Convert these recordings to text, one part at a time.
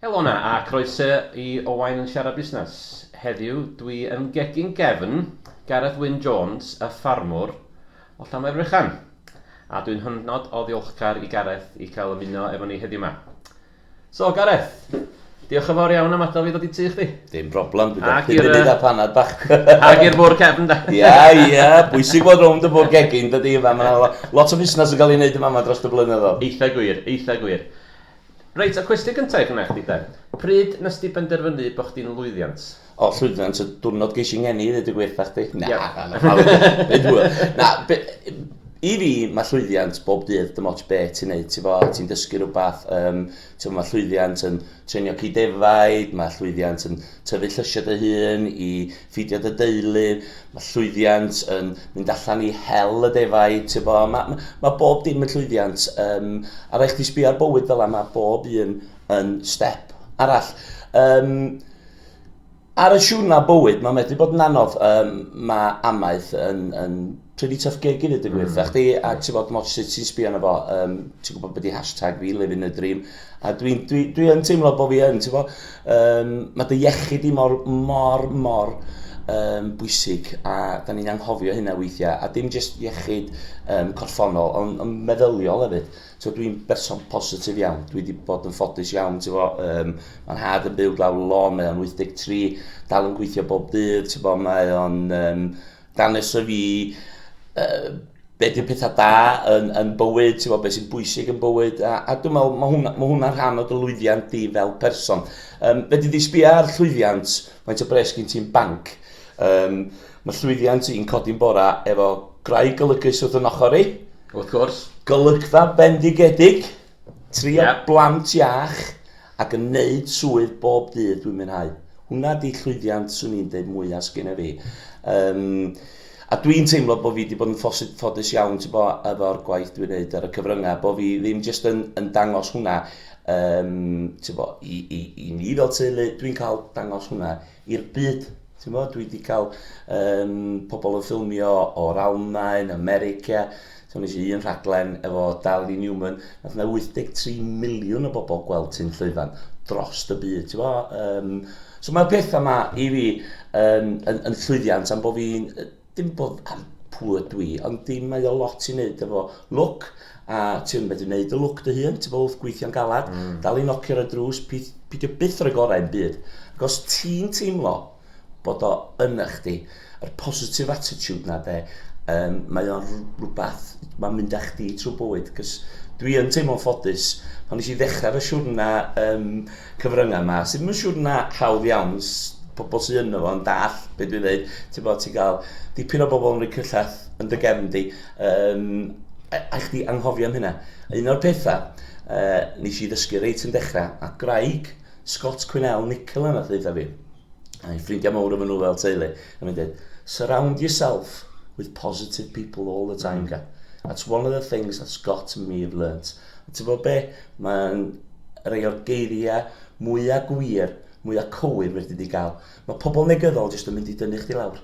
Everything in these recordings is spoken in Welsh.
Helo 'na a croeso i Owain yn Siarad Busnes. Heddiw dwi yn gegin gefn Gareth Wyn Jones, y ffarmwr o Llanfairfrechan. A dwi'n hynod o ddiolchgar i Gareth i cael ymuno efo ni heddiw 'ma. So Gareth, diolch yn fawr iawn am adael fi ddod i tŷ chdi. Dim broblem, dwi'n dal chdi munud a panad bach. Ac i'r bwr cefn da. Ia, ia, bwysig bod rownd y bwr gegin, dydy yma. Mae lot o fusnes yn cael ei wneud yma yma dros y blynyddoedd. Eitha gwir, eitha gwir. Reit, y cwestiwn gyntaf i chynna chdi de. Pryd nes di benderfynu bod chdi'n lwyddiant? O llwyddiant y diwrnod geis i ngeni i ddweud y gwir da chdi? Na, yeah. na, na, pawb yn hwyl. Na, be, i fi mae llwyddiant bob dydd, dim ots be ti'n neud, ti'n fo, ti'n dysgu rhywbeth, um, ti'n mae llwyddiant yn trenio cyd defaid, mae llwyddiant yn tyfu llysio dy hun i ffidio dy deulu, mae llwyddiant yn mynd allan i hel y defaid, ti'n fo, mae ma, ma bob dim yn llwyddiant, um, a rhaid chdi sbio ar bywyd fel yma, mae bob un yn step arall. Um, Ar y siwrna bywyd, mae'n medru bod yn anodd. Um, mae amaeth yn, yn pretty tough gig i ddweud y gwir. Mm. Chdi, a ti fod moch sut ti'n sbio na fo, um, ti'n gwybod beth i hashtag fi, living the dream. A dwi'n dwi, dwi yn teimlo bod fi yn, ti'n fo, um, mae dy iechyd i mor, mor, mor um, bwysig a da ni'n anghofio hynna weithiau. A dim jyst iechyd um, corffonol, ond on meddyliol hefyd. Tibod, dwi'n berson positif iawn, dwi wedi bod yn ffodus iawn, ti'n fo, um, mae'n had yn byw glaw lon, mae o'n 83, dal yn gweithio bob dydd, ti'n fo, mae o'n um, danes y fi, uh, be di'r pethau da yn, yn bywyd, ti'n fo, beth sy'n bwysig yn bywyd, a, a dwi'n meddwl, mae hwnna, ma hwnna rhan o dy lwyddiant di fel person. Um, fe di di sbio ar llwyddiant, mae'n o bres gyn ti'n banc, um, Mae llwyddiant i'n codi'n bora efo gwraig golygus wrth yn ochr i. Wrth gwrs. Golygfa fendigedig, tri o blant iach ac yn neud swydd bob dydd dwi'n mwynhau. Hwna di llwyddiant swn i'n deud mwya sgynna fi. Um, a dwi'n teimlo bod fi wedi bod yn ffodus iawn ti bo, efo'r gwaith dwi'n neud ar y cyfryngau, bod fi ddim jyst yn, yn dangos hwnna um, ti bo, i, i, i ni fel teulu, dwi'n cael dangos hwnna i'r byd. Ti'n gwybod, dwi wedi cael um, pobl yn ffilmio o'r Almain, America, so nes i un rhaglen efo Darley Newman, nath yna 83 miliwn o bobl gweld ti'n llwyfan dros y byd, ti'n gwybod. Um, so mae'r pethau yma i fi yn, yn, yn llwyddiant am bod fi'n Dim bod am pwy ydw i, ond dim mae o lot i wneud efo lwc, a ti yn medru wneud y lwc dy hun, ti'n bod wrth gweithio'n galad, mm. dal i nocio ar y drws, pidio byth ar y gorau yn byd. Ac os ti'n teimlo bod o yn eich di, yr positive attitude na de, um, mae o'n rhywbeth, mae'n mynd â chdi trwy bywyd, cys dwi yn teimlo'n ffodus. Pan nes i ddechrau fy siwrna um, cyfryngau yma sydd ddim yn siŵr na hawdd iawn i pobl sydd ynddo fo yn dall beth dwi'n dweud. Ti'n bod, ti'n cael dipyn o bobl yn rhoi cyllell yn dy gefn di. Um, a, a chdi anghofio am hynna. Un o'r pethau uh, nes i ddysgu reit yn dechrau, a graig Scott Quinnell Nicola nath ddeitha fi. A'i ffrindiau mawr efo nhw fel teulu. A mi'n dweud, surround yourself with positive people all the time, mm. That's one of the things that Scott and me have learnt. A ti'n gwybod be? Mae'n rhai o'r geiriau mwyaf gwir, mwyaf cywir fyrdd wedi gael. Mae pobl negyddol jyst yn mynd i dynnu chdi lawr.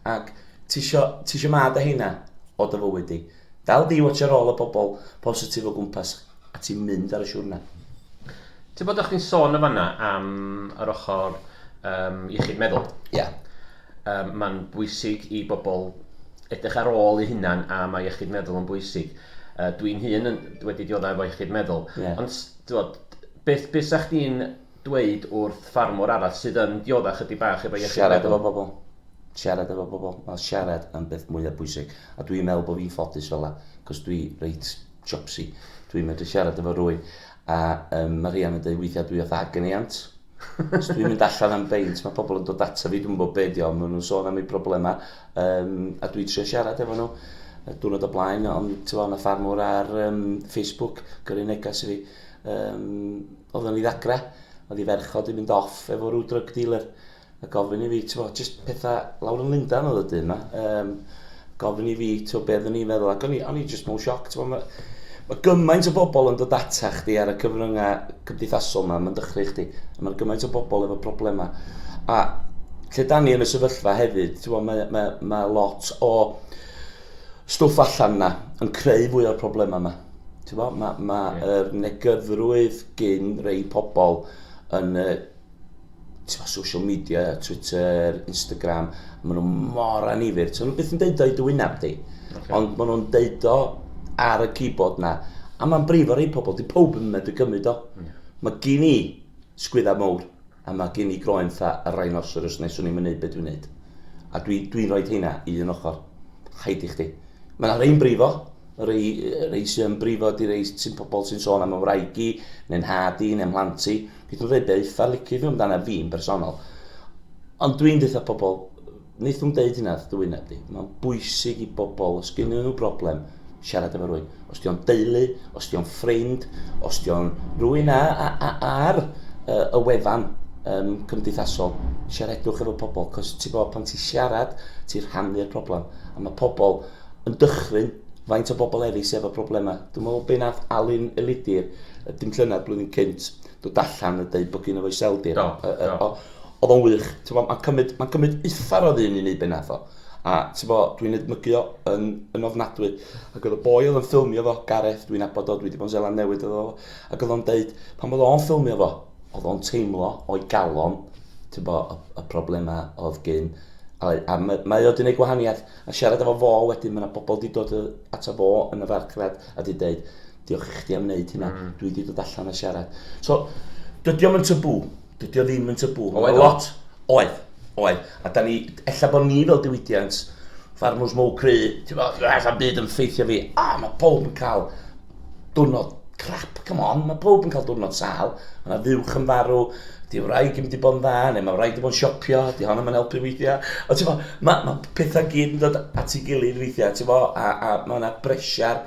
Ac ti eisiau ma da hynna o dy fywyd di. Dal di watch ar ôl y bobl positif o gwmpas a ti'n mynd ar y siwrna. Ti'n bod o'ch chi'n sôn y fanna am yr ochr um, iechyd meddwl? Ie. Yeah. Yy mae'n bwysig i bobl edrych ar ôl eu hunan a mae iechyd meddwl yn bwysig. Yy dwi'n hun yn wedi dioddau efo iechyd meddwl. Yeah. Ond t'wod beth beth 'sa chdi'n dweud wrth ffarmwr arall sydd yn diodda chydig bach efo iechyd meddwl? Siarad efo pobl. Siarad efo pobl. Mae siarad yn beth mwyaf bwysig. A dwi'n meddwl bod fi'n ffodus fel 'na, cos dwi reit siopsi. Dwi'n medru siarad efo rhywun. A yym ma' Rhian yn deud weithiau dwi fatha agony aunt. Os dwi'n mynd allan am beint mae pobl yn dod ata fi, dwi'm yn gwybod be di o, maen nhw'n sôn am eu problemau yym a dwi'n trio siarad efo nhw. Y diwrnod o blaen ond ti'n gwybod, 'na ffarmwr ar um, Facebook gyrru neges i fi. Um, oedd yn ei ddagrau, oedd ei ferch o di mynd off efo rhyw drug dealer a gofyn i fi, t'mo', jyst petha lawr yn Lundan oedd y dyn 'ma, um, gofyn i fi, t'mo', be' oeddwn i'n feddwl, ac o'n i, o'n i jyst mewn sioc, t'mo', ma' ma' gymaint o bobl yn dod ata chdi ar y cyfryngau cymdeithasol yma, mae'n dychryn chdi, a mae gymaint o bobl efo problemau. A lle da ni yn y sefyllfa hefyd, t'mo', mae, mae, mae lot o stwff allan yna yn creu fwy o'r problemau yma. Mae ma, ma yeah. yr negydrwydd gyn rei pobl yn y tibod, social media, Twitter, Instagram, maen nhw mor anifyr. Ti'n nhw beth yn deud o'i dywyneb di. Okay. Ond maen nhw'n deud o ar y keyboard na. A mae'n brif o rei pobl, di pob yn mynd i gymryd o. Mm. Mae gen i sgwydda mawr, a mae gen i groen tha y rhinoceros neu swn i'n mynd beth dwi'n neud. A dwi'n dwi, dwi rhoi heina i un ochr. Haid i chdi. Mae'n rhaid i'n brifo, Rhai, rhai sy'n brifo di rhai sy'n pobl sy'n sôn am ymwraig i, neu'n nhad i, neu'n mhlant i. Beth nhw'n dweud, be eitha licid nhw amdana fi'n bersonol. Ond dwi'n dweud pobl, wnaeth nhw'n deud hynna wrth dywyneb di. Mae'n bwysig i bobl, os gennyn nhw broblem, siarad efo rwy'n. Os di'n deulu, os di'n ffrind, os di'n rwy'n ar y wefan um, cymdeithasol, siaradwch efo pobl, cos ti bod pan ti siarad, ti rhannu'r problem. A mae pobl yn dychryn faint o bobl eraill sydd efo problemau. Dwi'n meddwl be nath Alun Elidir, y dim llynedd blwyddyn cynt, dod allan a dweud bod gen o'i seldir. Do, do. Oedd o'n wych. Mae'n cymryd, ma cymryd uffar o ddyn i wneud be nath o. A dwi'n edmygu o yn, yn ofnadwy. Ac oedd y boi oedd yn ffilmio fo, Gareth, dwi'n abod o, dwi wedi bod yn Zeland Newydd oedd o. Ac oedd o'n dweud, pan oedd o'n ffilmio fo, oedd o'n teimlo o'i galon, y, y problemau oedd gyn. A, a mae, mae o wedi gwneud gwahaniaeth. A siarad efo fo wedyn, mae yna bobl di dod ato fo yn y farchnad a di dweud, diolch i chdi am wneud hynna, mm. dwi di dod allan a siarad. So, dydy o'm yn tabw, dydy o ddim yn tabw. Oedd lot, oedd, oedd. A da ni, ella bod ni fel diwydiant, farmwrs mowr cry, ti'n bod, allan byd yn ffeithio fi, a mae pob yn cael diwrnod crap, come on, mae pob yn cael diwrnod sal, mae yna fuwch yn farw, di wraig yn di bod yn dda, neu mae wraig yn bod yn siopio, di hon yn helpu weithiau. O, ti'n fo, mae ma pethau gyd yn dod at ei gilydd weithiau, ti'n fo, a, a mae yna bresiar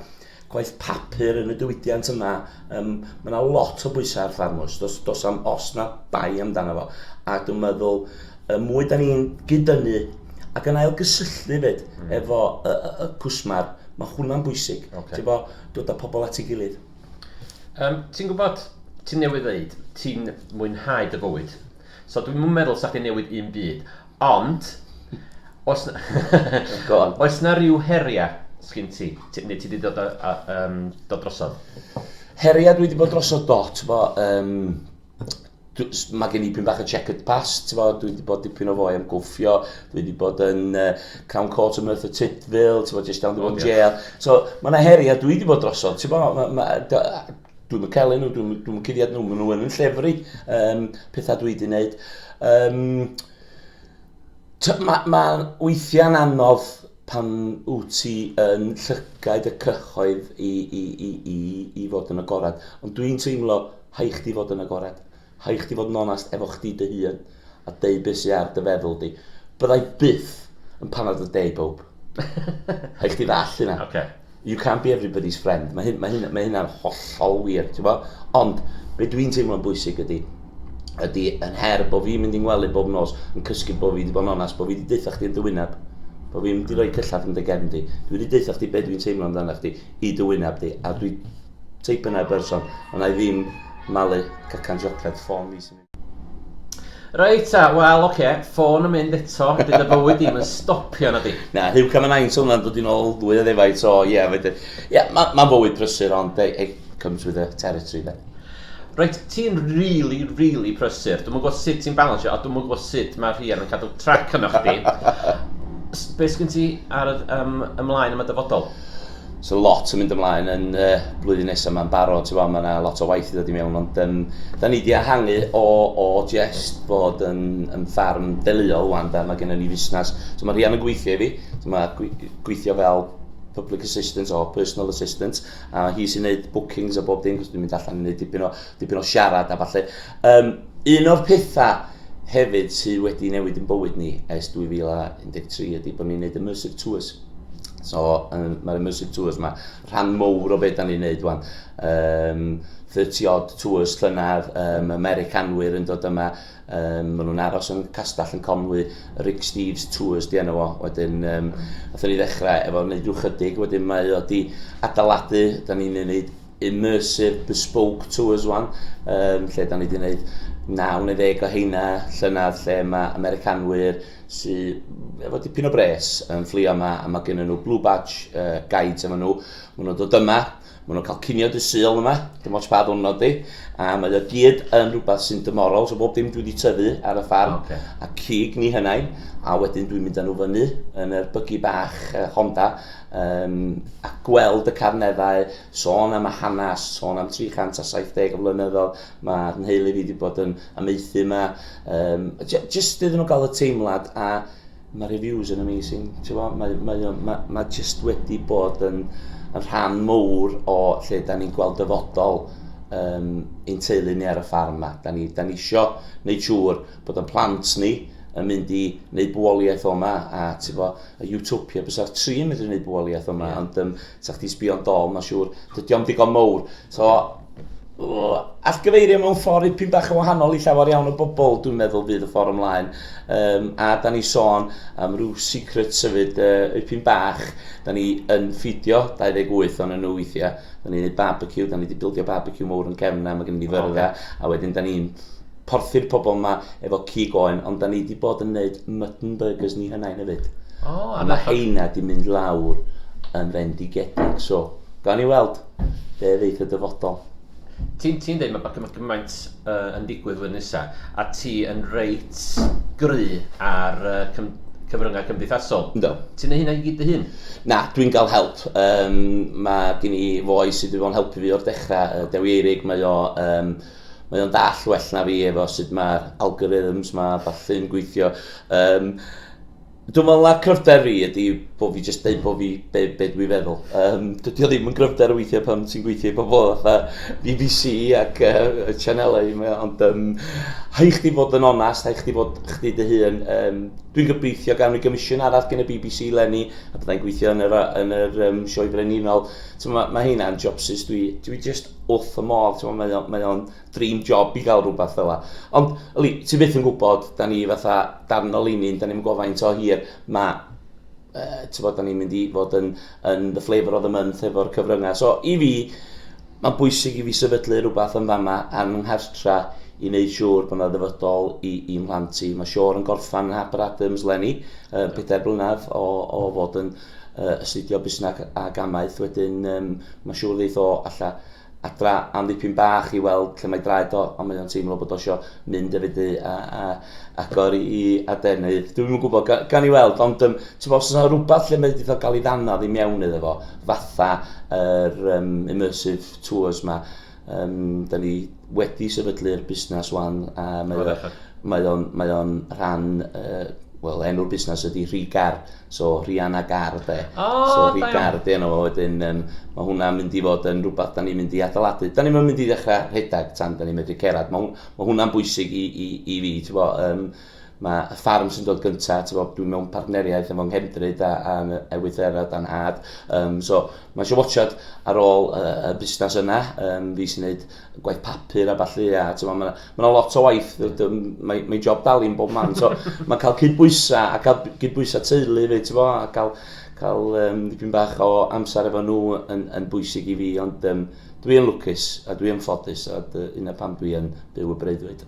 gwaith papur yn y diwydiant yma, um, mae yna lot o bwysau ar ffarmwrs, dos, dos am os na bai amdano fo. A dwi'n meddwl, Y mwy da ni'n gyd-dynnu ac yn ail-gysylltu fyd mm. efo y, y, y cwsmar, mae hwnna'n bwysig. Okay. Ti'n bo, dod â pobl at ei gilydd. Um, ti'n gwybod, ti'n newid ddeud, ti'n mwynhau dy fywyd. So dwi'n meddwl sa'ch ti'n newid un byd. Ond, os na, oes na rhyw heriau sgyn ti? ti neu ti wedi dod, a, a, um, dod drosodd? Heriau dwi wedi bod drosodd dot, bo, um, mae gen i pyn bach o checkered past, ti'n bod, dwi wedi bod dipyn o fwy am gwffio, dwi wedi bod yn uh, Crown Court yn Merthyr Tydfil, ti'n bod, jyst down the one jail. So, mae yna heri a dwi wedi bod drosodd, ti'n bod, ma, ma, dwi'n mynd cael nhw, dwi'n dwi cuddiad nhw, maen nhw yn yn llefru um, pethau dwi wedi gwneud. Um, mae ma weithiau'n anodd Pan wyt ti yn llygaid y cyhoedd i, i, i, i, i fod yn agored. Ond dwi'n teimlo, hai chdi fod yn agored. Hai chdi fod yn onast efo chdi dy hun a deud beth sydd ar dy feddwl di. Byddai byth yn panad y de i bawb. hai chdi ddall hynna. Okay. You can't be everybody's friend. Mae, hyn, mae, hyn, mae hynna'n hollol wir, ti'n bo? Ond, be dwi'n teimlo'n bwysig ydy, ydy yn her bod fi'n mynd i'n ngwely bob nos, yn cysgu bod fi wedi bod yn onas, bod fi wedi deutha chdi yn dywyneb. Bod fi'n mynd i roi mm. cyllad yn dy gefn di. Dwi wedi deutha chdi beth dwi'n teimlo amdano chdi i dywyneb di. A dwi teip yna person, ond na i ddim malu cacan siocled ffôn fi sy'n... Reit ta, wel oce, okay. ffôn yn mynd eto, bydd y bywyd ddim yn stopio na di. Na, hiw cam yn ein sôn yn dod i'n ôl ddwy o ddefaid, so ie, yeah, fydde... Ie, yeah, mae'n ma fywyd prysur, ond it, it comes with the territory, fe. Reit, ti'n really, really prysur. Dwi'n gwybod sut ti'n balansio, a dwi'n gwybod sut mae'r rhian yn cadw trac yno chdi. Be sgyn ti ar y, um, ymlaen am y dyfodol? So lot yn mynd ymlaen yn y uh, blwyddyn nesaf mae'n barod, ti'n mae yna lot o waith i ddod i mewn, ond um, da ni wedi ehangu o, o jest bod yn, yn ffarm deluol wan, da, mae gennym ni fusnes. So mae rhian yn gweithio i fi, so mae gweithio fel public assistant o personal assistant, a hi sy'n gwneud bookings a bob dim, cos dwi'n mynd allan i wneud dipyn o dipyn o siarad a falle. Um, un o'r pethau hefyd sydd wedi newid yn bywyd ni ers 2013 ydy bod ni'n gwneud immersive tours. So, um, mae'r immersive tours yma, rhan mowr o beth da ni'n gwneud wan. Um, 30 odd tours llynedd, um, Americanwyr yn dod yma, um, maen nhw'n aros yn castell yn Conwy, Rick Steves Tours di enw o, wedyn um, atho ni ddechrau efo wneud rhyw chydig, wedyn mae o di adaladu, da ni'n gwneud immersive bespoke tours wan, um, lle da ni wedi gwneud 9 neu ddeg o heina llynedd lle mae Americanwyr sydd efo dipyn o bres yn fflio yma a mae gen nhw Blue Badge uh, guides efo nhw. Maen nhw'n dod yma, maen nhw'n cael cinio dy syl yma, dim ots pa ddwrnod di, a mae o gyd yn rhywbeth sy'n dymorol, so bob dim dwi wedi tyfu ar y ffarm, okay. a cig ni hynnain, a wedyn dwi'n mynd â nhw fyny yn yr bygu bach uh, Honda, um, a gweld y carneddau, sôn am y hanes, sôn am 370 o flynyddoedd, mae nheulu fi wedi bod yn amaethu yma. Um, just iddyn nhw gael y teimlad, a mae reviews yn amazing. Mae, mae, mae, mae just wedi bod yn, yn rhan mowr o lle da ni'n gweld dyfodol um, ein teulu ni ar y ffarm yma. Da ni, da ni isio wneud siŵr bod yn plant ni yn mynd i wneud bwoliaeth o'ma a ti'n A Utopia bysa'r tri yn medru neud bwaliaeth yma, yeah. ond um, sa chdi sbio'n dol, mae'n siŵr, dydy o'n digon mowr. So, atgyfeirio mewn ffordd ipyn bach yn wahanol i llawer iawn o bobl, dwi'n meddwl fydd y ffordd ymlaen. Um, a da ni sôn am rhyw secret sefyd uh, ipyn bach, da ni yn ffidio 28 o'n nhw weithiau, da ni'n gwneud barbecue, da ni wedi bildio barbecue mowr yn cefn na, mae gen i fyrfa, okay. a wedyn da ni'n porthi'r pobl yma efo cig oen, ond da ni wedi bod yn gwneud mutton burgers ni hynna'n hefyd. O, oh, a mae heina wedi mynd lawr yn fendigedig, so gawn ni weld be ddeith y dyfodol. Ti'n ti dweud mae mae gymaint uh, yn digwydd flwyddyn nesaf, a ti yn reit gry ar uh, cym, cyfryngau cymdeithasol. Do. Ti'n ei hynna i gyd dy hun? Na, dwi'n cael help. Um, mae gen i foi sydd wedi bod yn helpu fi o'r dechrau, uh, Dewi Eirig, mae o... Um, mae o'n dall well na fi efo sut mae'r algorithms ma a ballu'n gweithio. Um, Dwi'n meddwl na cryfder fi ydy bod fi jyst dweud bod fi be, be dwi feddwl. Um, dydy o ddim yn gryfder weithiau pan ti'n gweithio i bobl fatha BBC ac uh, y chanelau yma, ond um, hai chdi fod yn onast, hai chdi fod chdi dy hun. Um, dwi'n gobeithio gawn ni gymisiwn arall gen y BBC lenni, a byddai'n gweithio yn yr, yn yr um, sioe brenhinol. So, mae, mae hynna'n jobsus dwi, dwi just wrth y modd, ti'n mae, o, mae o'n dream job i gael rhywbeth fel la. Ond, yli, ti byth yn gwybod, da ni fatha darn o linyn, da ni'n gofaint o hir, mae uh, ti'n bod, da ni'n mynd i fod yn, yn the flavour of the month efo'r cyfryngau. So, i fi, mae'n bwysig i fi sefydlu rhywbeth yn fama ar fy nghartra i wneud siŵr bod yna ddyfodol i, i mhlant i. Mae Sior yn gorffan yn Harper Adams lenni, uh, pedair blynedd o, o fod yn uh, astudio busnes ag amaeth, wedyn um, mae'n siŵr ddeith o alla adra am ddipyn bach i weld lle mae draed o, ond mae o'n teimlo bod o sio mynd efo di a, a agor i, i adenydd. Dwi'n yn gwybod, gan, gan i weld, ond um, ti'n os yna rhywbeth lle mae wedi cael ei ddannodd i mewn iddo fo, fatha yr er, um, immersive tours ma, Um, da ni wedi sefydlu'r busnes wan, a mae o'n mae o, mae o rhan, uh, wel, enw'r busnes ydy Rhigar, so Rhianna Gar, de. Oh, so Rhigar, de, yna fo, wedyn, um, mae hwnna'n mynd i fod yn rhywbeth da ni'n mynd i adeiladu. Da ni'n mynd i ddechrau rhedeg tan da ni'n medru cerad. Mae, mae hwnna'n bwysig i, i, i fi, ti'n bo, um, Mae y ffarm sy'n dod gyntaf, ti'n bod, dwi'n mewn partneriaeth efo Nghefndryd a, a Ewythrera dan had. Um, so, mae eisiau watchad ar ôl y, y busnes yna, um, fi sy'n gwneud gwaith papur a falle, a ti'n bod, mae yna lot o waith, mae'n mae job dal i'n bob man. So, mae'n cael cydbwysau, a cael cydbwysau teulu fi, ti'n bod, a cael, cael um, dipyn bach o amser efo nhw yn, yn bwysig i fi, ond um, dwi'n lwcus a dwi'n ffodus, a dyna pam dwi'n byw y breuddwyd.